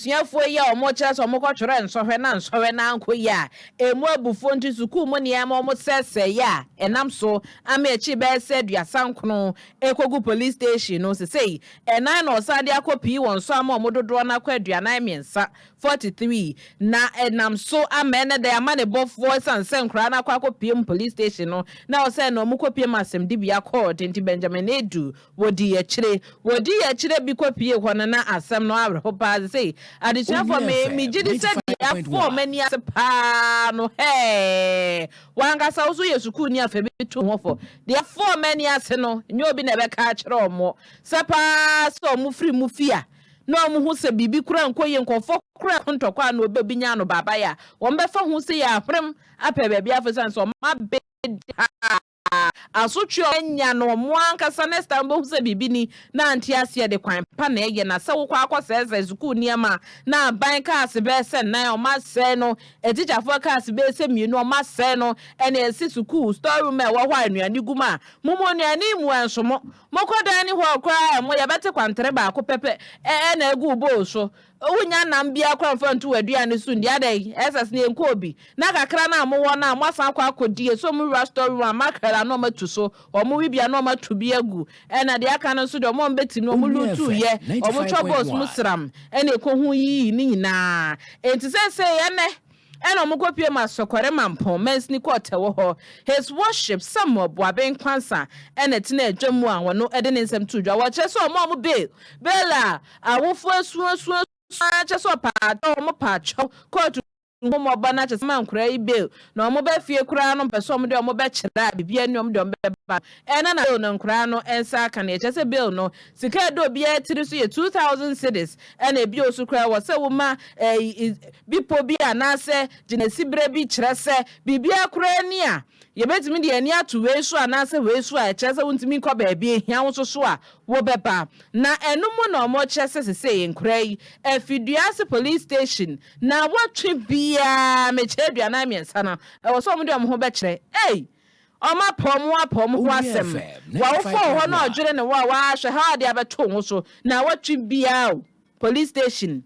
abusuafoɔ yi a wɔkyerɛ sɛ wɔkɔtwerɛ nsɔhwɛ na nsɔhwɛ no ankɔ yie a ɛmu abufoɔ nti sukuu mu nneɛma wɔsɛesɛeɛ a ɛnam so ama akyiri bɛyɛ sɛ aduasa nkono rekɔgu police station no sesei ɛnan na wɔsan de akɔ pii wɔn so ama wɔn dodoɔ no akɔ aduanan mmiɛnsa, 43, na ɛnam so ama ɛnnɛ da yi amanebɔfoɔ ɛsiane sɛ nkwadaa no akɔ akɔpiem police station no na wɔsɛe na wɔkɔpiem asɛmdibea kɔɔte nti Benjamin Adu Wɔdii akyire. Wɔdii akyire bi kɔpuee hɔ no, na asɛm no awerɛho pa ara. Seesei, adesuafoɔ, me, megye di sɛ deɛ afɔɔ m'ani ase pa ara no, hɛɛɛ, wo ankasa wo nso woyɛ sukuuni a, fa bi to ho fɔ. Deɛ afɔɔ m'ani ase no, nyɛ obi na ɛbɛka akyerɛ wɔn sɛ pa ara sɛ wɔfiri mo fie a, na wɔhu sɛ biribi koraa nkɔ yie, nkurɔfoɔ koraa ko ntɔkwa a na wɔbɛbinya no baabaeɛ a, wɔbɛfa ho sei a, ahwerem apɛ baabi afɔ, ɛsiane sɛ wɔabɛdi ha. asotwe a wɔanya no wɔn ankasa ne sika no bohu sɛ biribi ni na ante aseɛ de kwan pa na ɛyɛ na sɛ wokɔ akɔsɛesɛe sukuu nneɛma a na aban kaase bɛyɛ sɛ nan wɔn asɛe no atikyafoɔ kaase bɛyɛ sɛ mmienu wɔn asɛe no ɛna ɛsi sukuu store room a ɛwɔ hɔ a nnuane gu mu a mo mu nnuane yi mua nso mo mokɔ dining hall koraa a ɛmo yɛbɛte kwantere baako pɛpɛ ɛna agu bowl so Wunnya nam biara koraa mfa ntu w'aduan no so nni. Adɛn, Esas, na yɛnkɔ obi, na kakra no a mowɔ no a moasan akɔ akɔdi esum wura storeroom a mackerel a na wɔatu so, wɔwe bi a na wɔato bi agu, ɛnna deɛ aka no nso deɛ wɔn a wɔbɛtim no wɔluutuuiɛ, wɔtwa box mu sram, ɛnna ɛkɔhuuyii ne nyinaa. Enti seesei ɛnnɛ, Ɛnna wɔkɔpue maa Sɔkɔre Mampong mansini kɔɔ Tɛwo hɔ. His Worship Samuel Boabeng Kwansa na tenaa dwam mu a ɔno de ne nsɛm too dwa. Wɔkyerɛ sɛ ɔmaa wɔn bail, bail a awofoɔ asuasua ara kyerɛ sɛ ɔpaatwɔ, wɔn paatwɔ, kɔɔto nhummɔbɔ no akyɛ sɛ wɔma nkwadaa yi bail, na wɔba fie koraa no wɔpɛ sɛ wɔde wɔn bɛkyerɛ a biribiara nni hɔ a wɔde wɔn bɛba no. Ɛna na Bill no nkoraa no nsa aka nea ɛkyerɛ sɛ Bill no sika a ɛda obiara tiri so yɛ two thousand cedis ɛna ebio so koraa ɛwɔ sɛ woma ɛyi bipɔ bi anaasɛ gyinaesi berɛ bi kyerɛ sɛ biribiara koraa ni a yɛbɛtumi de yɛn ani ato wei so anaasɛ wei so a ɛkyerɛ sɛ wontumi nkɔ baabi ehia wo nso so a wobɛba na ɛno mu na wɔkyerɛ sɛ sesei nkoraa yi afi Duase Police Station na wɔtwe biara mekyɛ aduanan mmiɛnsa no ɛwɔ sɛ wɔde wɔn ho bɛkyerɛ ei Ɔma pɔw mu a pɔw mu ho asɛm. W'awofo wɔ hɔ na ɔdwene ne wo a, wahwɛ ha a ɔde abɛto wo ho so. Naawɔtwe biara o, police station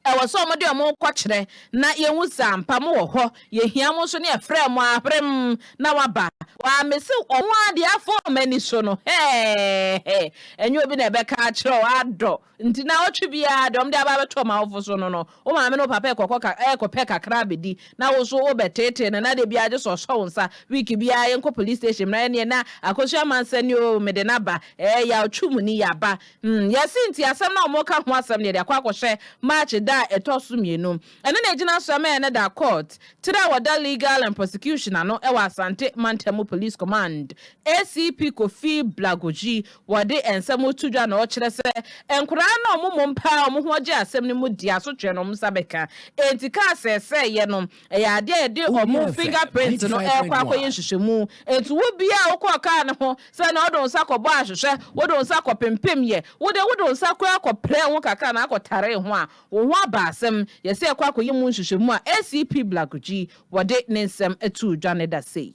ɛwɔ sɛ ɔmo de ɔmo kɔ kyerɛ na yɛhu sɛ ampa mo wɔ hɔ. Yɛhia mo nso ne yɛfrɛ mo a, hwerem na waba. Waa mese ɔno ara deɛ afɔm ani so no hɛɛhɛ. Ɛnyɛ obi na ɛbɛka akyerɛ wo adɔ. Nti naawɔtwe biara deɛ wɔde aba abɛto wɔn awofo so no no, wo maame ne wo papa rekɔkɔ ka, rekɔpɛ kakra abɛdi, na wo nso wobɛteetee no, na da biara gye sɛ ɔsɔ wo nsa. Week biara yɛnkɔ police station mmra ɛnneɛ na akosua amansa ni oo, mede no aba. Ɛɛ, yaw twe mu ni, yɛaba. Hmm, yɛse nti asɛm no a wɔreka ho asɛm no yɛde akɔ akɔhyɛ March da a ɛtɔ so mmienu. Ɛno na ɛgyina so ɛma yɛnnɛ da court tire a wɔda legal and prosecution ano wɔ Asante Mantam Police Command, ACP Kofi Blagojee Wɔde nsɛm to dwa na wɔkyerɛ sɛ nkwadaa no a wɔmmom paa a wɔn ho agye asɛm no mu de asotwe na wɔn nsa bɛka. Enti kaa sɛɛsɛɛ yɛ no, ɛyɛ adeɛ a yɛde wɔn finger print no rekɔ akɔyɛ nhwehwɛmu. Enti wo biara a wokɔɔ kaa no ho sɛ na wode wo nsa kɔbɔ ahwehwɛ, wode wo nsa kɔpempem yɛ, wo deɛ wode wo nsa koraa kɔprɛɛ ho kakra na akɔtaree ho a, wo ho aba asɛm. Yɛsɛ yɛkɔ akɔyɛ mu nhwehwɛmu a ACP Blakudzi wɔde ne nsɛm too dwa no da sei.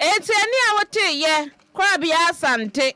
Enti ɛnne a wotee yɛ korabea Asante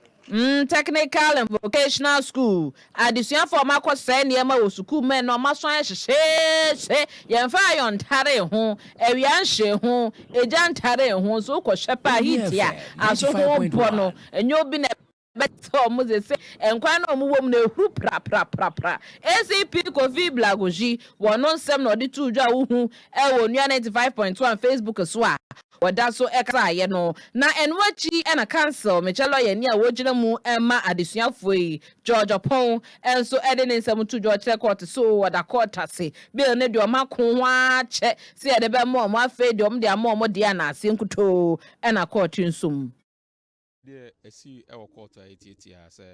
Technical and Vocational School adesuafo a wɔakɔsɛe nneɛma wɔ sukuu mmɛn na wɔasan ayɛ hyehyeehye. Yɛmfa ayɔn ntaree ho, awia nhyee ho, egya ntaree ho nso. Wokɔhwɛ paa, heat a aso ho mpɔ no, ɛnyɛ obi na ɛbɛyɛ. bɛtɛ wɔn dze sɛ nkwa na wɔn wɔ mu no ehuru prapraprapra. ACP Kofi Blagojy wɔ no nsɛm na ɔdze too dwa a wohu wɔ Onua ninety five point one Facebook so a wɔda so kasaayɛ no, na ɛno akyi na Council Mekyɛ lɔyɛni a wogyina mu ma adesuafoɔ yi, George Opong nso de ne nsɛm too dwa ɔkyerɛ kɔɔte so o wɔda kɔɔte ase bill no de wɔn ako ho ara kyɛ sɛ yɛde bɛma wɔn afei deɛ wɔn de ama wɔn deɛ anaaseɛ nkutoo na kɔɔte nso mu. Deɛ ɛsii wɔ kɔɔto a ɛtiatiaa sɛ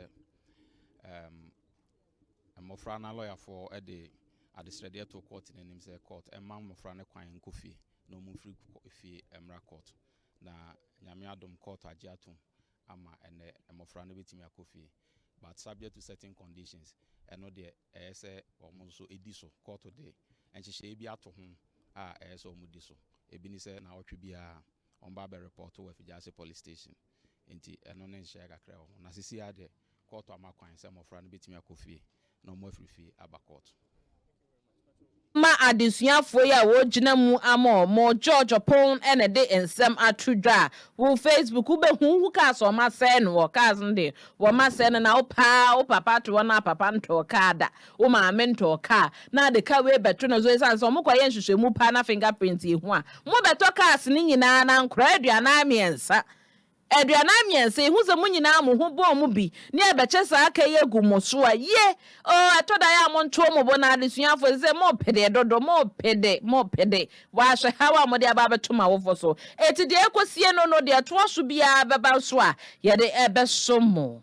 mmɔfra no alɔyafoɔ de adesrɛdeɛ too kɔɔto no anim sɛ kɔɔto mma mmɔfra no kwan nkɔ fie na wɔmfiri fie mmra kɔɔto. Na Nyame adom kɔɔto agye atom ama ɛnnɛ mmɔfra no bɛtumi akɔ fie but subject to certain conditions. Ɛno deɛ ɛyɛ sɛ wɔn nso di so. Kɔɔto de nhyehyɛeɛ bi ato ho a ɛyɛ sɛ wɔdi so. Ɛbi ne sɛ nnawɔtwe biara wɔn ba bɛ report wɔ Afigyase police station nti ɛno ne nhyɛɛ kakra wɔ ho na sisi ara deɛ kɔɔto ama kwan sɛ mmɔfra no bɛtumi akɔ fie na wɔn afiri fie aba kɔɔto. Ɛma adesuafoɔ yi a wɔgyina mu ama wɔn George Opon na ɛde nsɛm ato dwa a, wo Facebook wo bɛ hu wo cars wɔn asɛe no wɔ cars no deɛ wɔn asɛe no na wo paa wo papa to hɔ no a papa ntɔɔ car da Wo maame ntɔɔ car na ade ka wei bɛto no so esiane sɛ ɔmo kɔyɛ nhwehwɛmu paa na finger print yɛ hu a. Mo bɛtɔ cars no nyinaa na nkɔraa aduanan mmiɛnsa. Aduanan mmiɛnsa ehu sɛ mo nyinaa mo ho bɔɔ mu bi ne ɛbɛkyɛ saa aka yi agu mo so a ye oo ɛtɔ da yɛ a mo ntoo mo bo na adesuafo ɛsɛ sɛ mo pede dodo mo pede mo pede waa hwɛ haw a mode aba abɛto mo awofo so eti deɛ ɛkɔ sie no no deɛ ɛtoa so biara bɛba nso a yɛde ɛbɛso mo.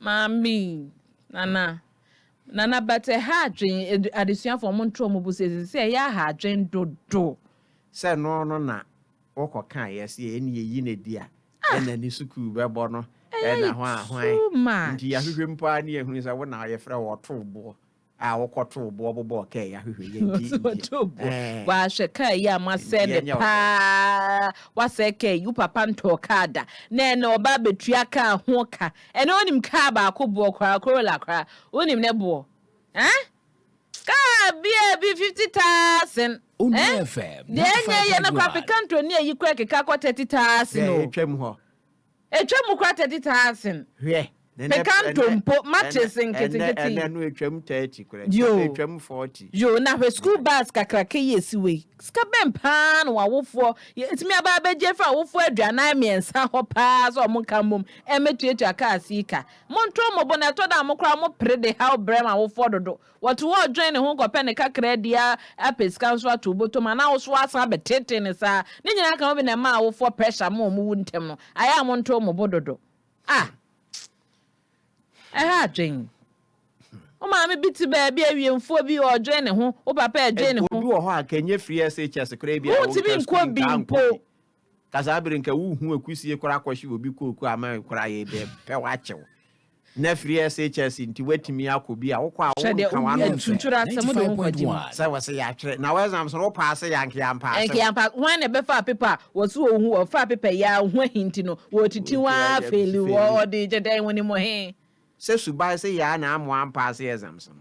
Maame, Nana, Nana but ɛha adwen, adesuafo ɔmo ntra ɔmo bo sɛ ɛsɛ sɛ ɛyɛ aha adwen dodo. Sɛ ɛno no na wo kɔ ka yɛ sɛ yɛn yɛ yi no di a yɛ na ne sukuu bɛ bɔ no ɛna hwan hwan nti yɛ ahwehwɛ mpo a ne yɛ hunu sɛ wo na yɛ frɛ wo ɔtoo boɔ a wokɔtoo boɔ bobɔɔ kaa yi ahwehwɛ yɛn nti nti wahwɛ kaa yi a moasɛe ne paa wasɛe kaa yi wo papa ntɔɔ kaa da na ɛnɛ ɔba abɛtua kaa ho ka ɛnɛ wonim kaa baako boɔ koraa Corolla koraa wonim ne boɔ eh kaa bi a bi fifty thousand eh deɛ ɛnyɛ yɛ no koraa African tour ne ayi koraa keka kɔ thirty thousand o. Ɛtwam koraa 30 taasen. Hwɛ. Me ka ntompo, matches nketenkete yi. Ɛnɛ no ɛtwam 30 koraa. Yoo. Ɛtwam 40. Yoo, na hwɛ school bus kakraka yi a ɛsi hɔ yi, sika bɛn paa na w'awofoɔ, yɛtumi aba abɛgye afiri awofoɔ aduanan mmiɛnsa hɔ paa sɛ wɔn nka mmom mmɛtuatua cars yi ka? Montrɔ mo bo, na ɛtɔ da a mo koraa mopere de haw brɛ mo awofoɔ dodo, Wɔto hɔ dwen ne ho kɔpɛ ne kakraa di ara apɛ sika nso ato wo bɔtɔ mu anaa wo so woasan abɛteetee no saa. Ne nyinaa ka ho bi na ɛma awofoɔ pressure ma wɔwu ntɛm no. Ayɛ a montoo mo bo dodo. Ah! Ɛha adwene. Wo maame bi te baabi, awiemfoɔ bi, ɔredwen ne ho, wo papa redwen ne ho. Obi wɔ hɔ a anka ɛnyɛ firi SHS koraa ebia a wontumi nkɔ bi mpo. Ka saa bere nka wo hu akusie kora kɔhye obi kooko ama kora yɛ bɛ pɛ wakyew na firi SHS nti watumi akɔ bi a wokɔ a wo nka wa no nso ɛ sɛ wɔ se yɛ atwerɛ na wɔ exams no wo paase yɛ anke yɛ ampaase wɔ. Anke yɛ ampaase hwan na ɛbɛ faa paper a wɔ se wɔ hu wɔ faa paper yɛ a ɔho ahi nti no wɔ titi wɔ a feli wɔ ɔde gyɛ dɛn wɔ nim he. Sɛ suban se yɛ a na amoa ampaase exams no.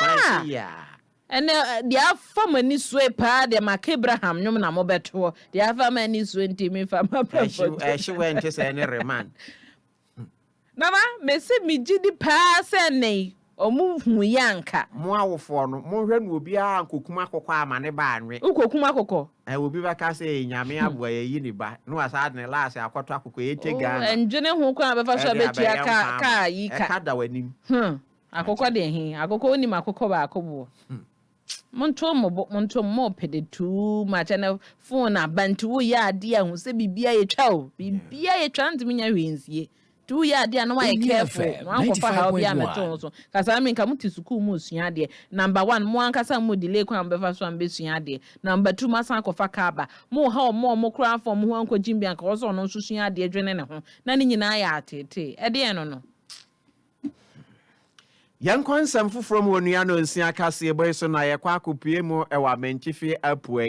Aa! Ɛnɛ deɛ afa mo ani soe paa deɛ maka Abraham nnwom na mobɛtoɔ, deɛ afa m'ani soe nti mefa m'abrabɔ to. Ɛhye wɛ nte sɛ ɛne Reman. Nana mese megye di paa sɛ nnɛ yi ɔmo huu yɛ anka. Mo awofoɔ no monhwɛ no obiara ankokum akokɔ ama ne ba anwe. Wo kɔkum akokɔ? Ɛɛ obi bɛka sɛ ee Nyame aboa yɛayi ne ba na wasan de ne laase akɔtɔ akokɔ, ee te Ghana. Ɛndwene ho kwan a bɛfa so a bɛtua kaa kaa yi ka. Ɛka da w'anim. Huh. Akokɔ deɛ he, akokɔ wonim akokɔ baako boɔ? Monto mo bo, monto mo mo pede too much ɛnɛ phone aba nti woyɛ adeɛ a hu sɛ biribiara yɛtwa o, biribiara yɛtwa wontumi nyɛ hwee nsie nti woyɛ adeɛ a na woayɛ careful na woankɔfa haw biara mmɛto wo so. Kasaa me nka mote sukuu moresua adeɛ, number one mo ankasa mo delay kwan a mobɛfa so a mobɛsua adeɛ, number two moasan akɔfa car aba, moreha ɔmo a ɔmo koraa amfa ɔmo ho ankɔgye bi anka ɔwɔ sɛ ɔno nso sua adeɛ dwene ne ho na ne nyinaa yɛ ateetee. Ɛdeɛn no no? Yɛnkɔ nsɛm foforɔ mu Onua Nonsia Kaseɛ bɔ yi so na yɛkɔ akɔpue mu wɔ Amantifi Apueɛ.